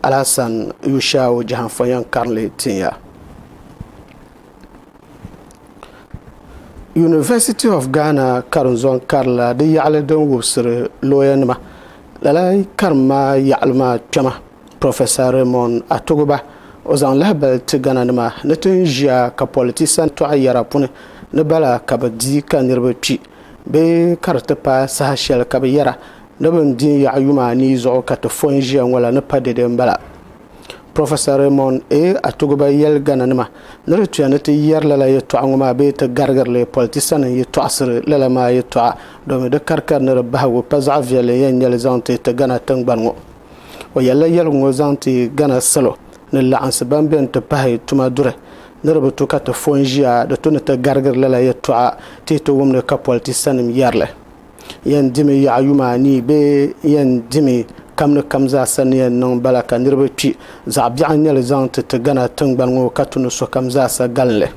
Alasan Yushau Jahanfɔ yɛn karinli tinya. University of Ghana karinzɔŋ karila di yaɣili din wubisiri looyanima. Lala karim maa yaɣili maa kpɛma Professor Raymond Atogba, o zaŋ lahibali ti Ghana nima ni ti ni ʒiya ka politisa tɔɣi yɛra puni ni bala ka bɛ di ka niriba kpi bee ka di ti paai saha shɛli ka bɛ yɛra Di mini din yaɣi yuma anii zuɣu ka ti fo n-ʒiya ŋɔ la ni pa dɛde m-bala. Professor Raymond A. Atuguba yɛli Ghana nima ni di tuya ni ti yɛri lala yɛtɔɣa ŋɔ maa bee ti garigiri li, politisanima yi tɔɣisiri lala maa yɛtɔɣa domi di karikari ni di bahigu pa zaɣ viɛlli n-yɛn nyɛ li zaŋ ti ti Ghana tiŋgbani ŋɔ. O yɛlila yɛligu ŋɔ zaŋ ti Ghana salo ni laɣinsi ban beni ti pahi tuma duri ni di bi tu ka ti fo n-ʒiya di tu ni ti garigiri lala yɛtɔɣa ti yi ti wumdi ka politisanim yɛri li. Yɛn dimi yaɣa yuma anii bee n yɛn dimi kam ni kam zaa sa ni yɛn niŋ bala ka niriba kpi? Zaɣ biɛɣu n-nyɛ li zaŋ ti ti Ghana tiŋgbani ŋɔ ka tu ni sokam zaa sa galin li.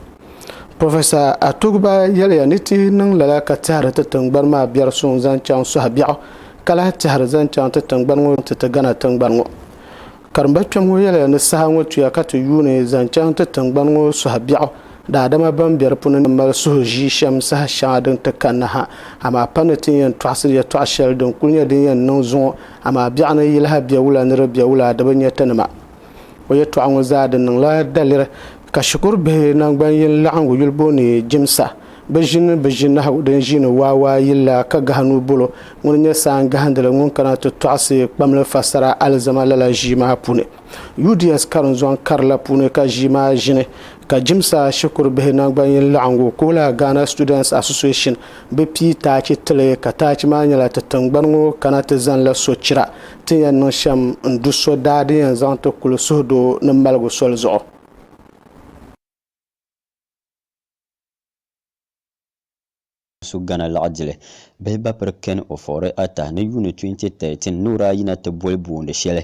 Professor Atogba yɛliya ni ti niŋ lala ka tɛhiri ti tiŋgbani maa biɛri suŋ zaŋ chaŋ sɔhi biɛɣu ka lahi tɛhiri zaŋ chaŋ ti tiŋgbani ŋɔ ti ti Ghana tiŋgbani ŋɔ Karimba kpɛm ŋɔ yɛliya ni saha ŋɔ tuya ka ti yuuni zaŋ chaŋ ti tiŋgbani ŋɔ suhu biɛɣu, daadama ban be di puuni ni mali suhu ʒii shɛm saha shɛŋa din ti kanna ha, amaa pa ni tin yɛn tɔɣisiri yɛtɔɣ shɛli din kul nyɛ din yɛn niŋ zuŋɔ, amaa biɛɣu ni yiliha bɛ wula ni di bɛ wula di bi nyɛ ti nima. O yɛtɔɣa ŋɔ zaa di niŋla daliri ka shikuru bihi naŋgban yini laɣingu yuli booni Jimsa Bɛ ʒini bɛ ʒinahu din ʒiini waawaa yili la ka gahi nuu bolo. Ŋuni n-nyɛ Saan Gahindili ŋun kana ti tɔɣisi kpamli fasara alizama lala ʒii maa puuni. UDS karinzɔŋ kari la puuni ka ʒii maa ʒini ka Jimsa shikuru bihi naŋgbanyin laɣingu ka o la Ghana Students Association bɛ pii taachi ti li ka taachi maa nyɛla ti tiŋgbani ŋɔ kana ti zani la sochira ti ni yɛn niŋ shɛm n-du so daa din yɛn zaŋ ti kuli suhudoo ni maligu soli zuɣu. su Ghana laɣidili bihi bapiri Ken Ofori Atta ni yuuni 2013 nuura ayi na ti boli boondi shɛli.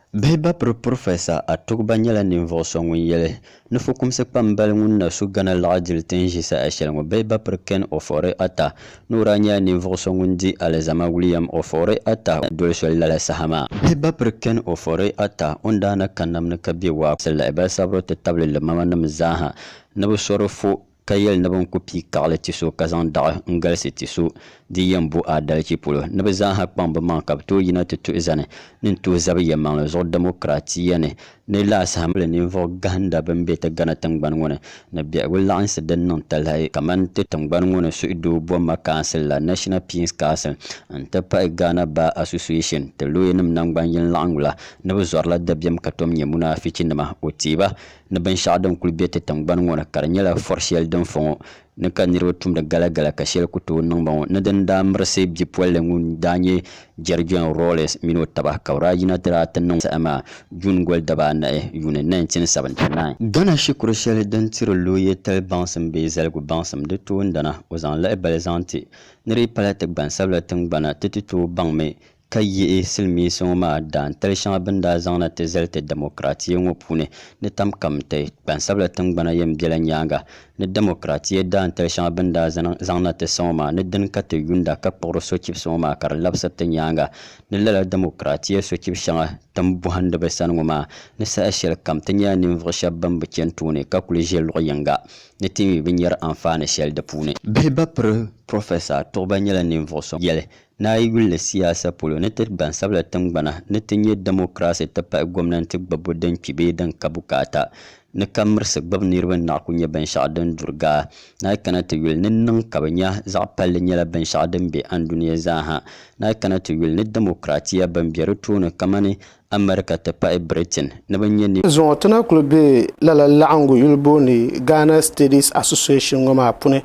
Bihi bapiri Professor Atogba nyɛla ninvuɣu so ŋun yɛli ni fukumsi kpambali ŋun na su Ghana laɣidili ti ni ʒi saha shɛli ŋɔ. Bihi bapiri Ken Ofori Atta nuura nyɛla ninvuɣu so ŋun di alizama William Ofori Atta doli soli lala saha maa. Bihi bapiri Ken Ofori Atta o ni daa na ka nam ni ka bɛ waa kuɣisi lahi bali sabiri ti tabili limamanim zaa ha Ni bɛ so di fo, ka yɛli ni bɛ ni ku pii kaɣili ti so ka zaŋ daɣu n-galisi ti so din yɛn bo aadalichi polo, ni bɛ zaa ha kpaŋ bɛ maŋa ka bɛ tooi yina ti tuhi zani ni n-tuhi zabi yɛlimaŋli zuɣu dɛmokiraatiya ni, ni lahisahimbili ninvuɣ gahinda bɛn be ti Ghana tiŋgbani ŋɔ ni, ni biɛhigu laɣinsi din niŋ talahi kamani ti tiŋgbani ŋɔ ni suhudoo bɔhimma kaansil la, National Peace Council, n-ti pahi Ghana Bar Association, ti looyanim naŋgban yini laɣingu la, ni bɛ zɔrila dabiɛm ka tom nyɛ munaafichinima, o teei ba. ni binshɛɣu din kuli be ti tiŋgbani ŋɔ ni ka di nyɛla fɔr shɛli din fɔ ŋɔ ni ka niriba tumdi galagala ka shɛli ku tooi niŋ ba ŋɔ ni dini daa mirisi bipolili ŋun daa nyɛ Jerry John Rawlings mini o taba ka bɛ daa yina ti daa ti niŋ saha maa June goli dabaa anahi, yuuni, 1979. Ghana shikuru shɛli din tiri looye tali baŋsim bee zaligu baŋsim di toondana o zaŋ lahibali zaŋ ti ni di yi pala ti gbansabila tiŋgbana ti ti tooi baŋmi ka yihi silimiinsi ŋɔ maa daantali shɛŋa bɛ ni daa zaŋ na ti zali ti dɛmokiraatiya ŋɔ puuni ni tam kam n-ti gbansabila tiŋgbana yɛn bela nyaaŋa ni dɛmokiraatiya daantali shɛŋa bɛ ni daa zaŋ na ti sa ŋɔ maa ni dini ka ti yuunda ka kpuɣiri sochibisi ŋɔ maa ka di labisiri ti nyaaŋa ni lala dɛmokiraatiya sochibi shɛŋa tin bɔhindi bɛ sani ŋɔ maa ni saha shɛli kam ti nyɛla ninvuɣ shɛba bɛn bi chani tooni ka kuli ʒe luɣ yiŋga ni ti mi bi nyari anfaani shɛli di puuni. Bihi ba piri Professor Tuɣuba nyɛla ninvuɣ so yɛli Ni a yi yulli siyaasa polo, ni ti gbansabila tiŋgbana ni ti nyɛ dɛmokiraasi ti pahi gomnanti gbibbu din kpi bee din ka bukaata ni ka mirisi gbibu niriba ni naɣi ku nyɛ binshɛɣu din duri gaa. Ni a yi kana ti yuli ni niŋ ka bɛ nya zaɣ palli nyɛla binshɛɣu din be andunia zaa ha. Ni a yi kana ti yuli ni dɛmokiraatiya bɛn be di tooni kamani America ti pahi Britain ni bɛ nyɛ niriba Zuŋɔ ti na kuli be lala laɣingu yuli booni Ghana Studies Association ŋɔ maa puni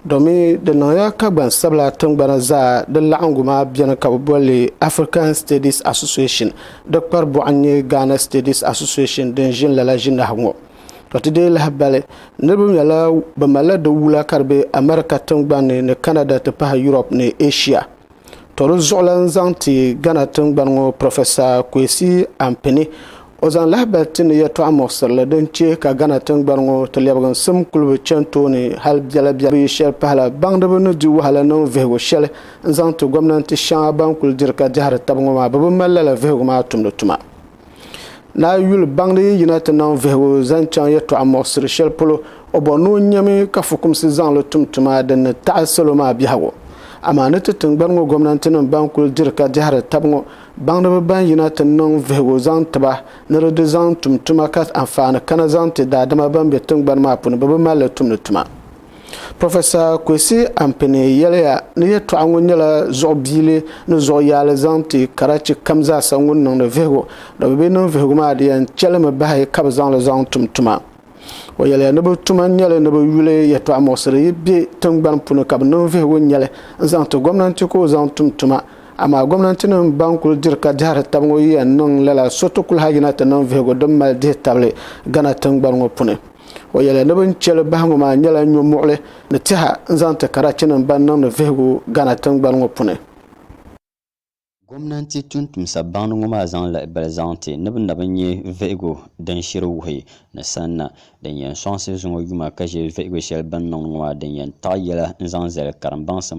domi di niŋya ka gbansabila tingbana zaa di laɣingu maa beni ka bɛ boli li African Studies Association di kpari bɔɣu n nyɛ Ghana Studies Association din ʒini lala ʒinahi ŋɔ to ti deei lahi bali niriba nyɛla bɛ malila di wula ka di be America tingbani ni Canada ti pahi Europe ni Asia To di zuɣulan zaŋ ti Ghana tingbani ŋɔ Professor Kwesi Ampini o zaŋ lahibali ti ni yɛltɔɣa muɣisirili din che ka Ghana tingbani ŋɔ ti lɛbiginsim kuli bi chani tooni hali biɛla biɛla yi shɛli pahila baŋdiba ni di wahala niŋ vihigu shɛli n zaŋ ti gomnanti shɛŋa ban kuli diri ka dɛhiri taba ŋɔ maa bɛ bi mali lala vihigu maa tumdi tuma. Naa yuli baŋdi yi yina ti niŋ vihigu zaŋ chaŋ yɛtɔɣa muɣisiri shɛli polo, o bɔri ni o nyami ka fukumsi zaŋ li tum tuma din ni taɣi salo maa biɛhigu. Amaa ni ti tiŋgbani ŋɔ gomnantinim ban kuli diri ka dɛhiri tab ŋɔ baŋdiba ban yina ti niŋ vihigu zaŋ ti ba ni di di zaŋ tum tuma ka anfaani kana zaŋ ti daadama ban be tiŋgbani maa puuni bɛ bi mali li tumdi tuma. Professor Kwesi Ampene yɛliya ni yɛltɔɣa ŋɔ nyɛla zuɣu biili ni zuɣu yaali zaŋ ti karachi kam zaasa ŋun niŋdi vihigu ni bɛ bi niŋ vihigu maa di yɛn chelimi bahi ka bɛ zaŋ li zaŋ tum tuma. O yɛliya ni bɛ tuma nyɛli ni bɛ yuli yɛltɔɣa muɣisiri yi bɛ tingbani puni ka bɛ niŋ vihigu nyɛli n zaŋ ti gomnanti ka o zaŋ tum tuma amaa gomnantinim ban kuli diri ka dɛhiri tab ŋɔ yi yɛn niŋ lala so ti kuli ha yina ti niŋ vihigu din mali dihi tabili Ghana tingbani ŋɔ puni. O yɛli ni bɛ ni chɛ li bahi ŋɔ maa nyɛla nyɔmuɣili ni tɛha n-zaŋ ti Karachinim ban niŋdi vihigu Ghana tiŋgbani ŋɔ puni. Gomnanti tuntumsa baŋdi ŋɔ maa zaŋ lahibali zaŋ ti ni bɛ na bi nya vihigu din shiri wuhi ni sanna din yɛn sɔŋsi zuŋɔ yuma ka ʒe vihigu shɛli bɛ ni niŋdi ŋɔ maa din yɛn taɣi yɛla n-zaŋ zali karimbaŋsim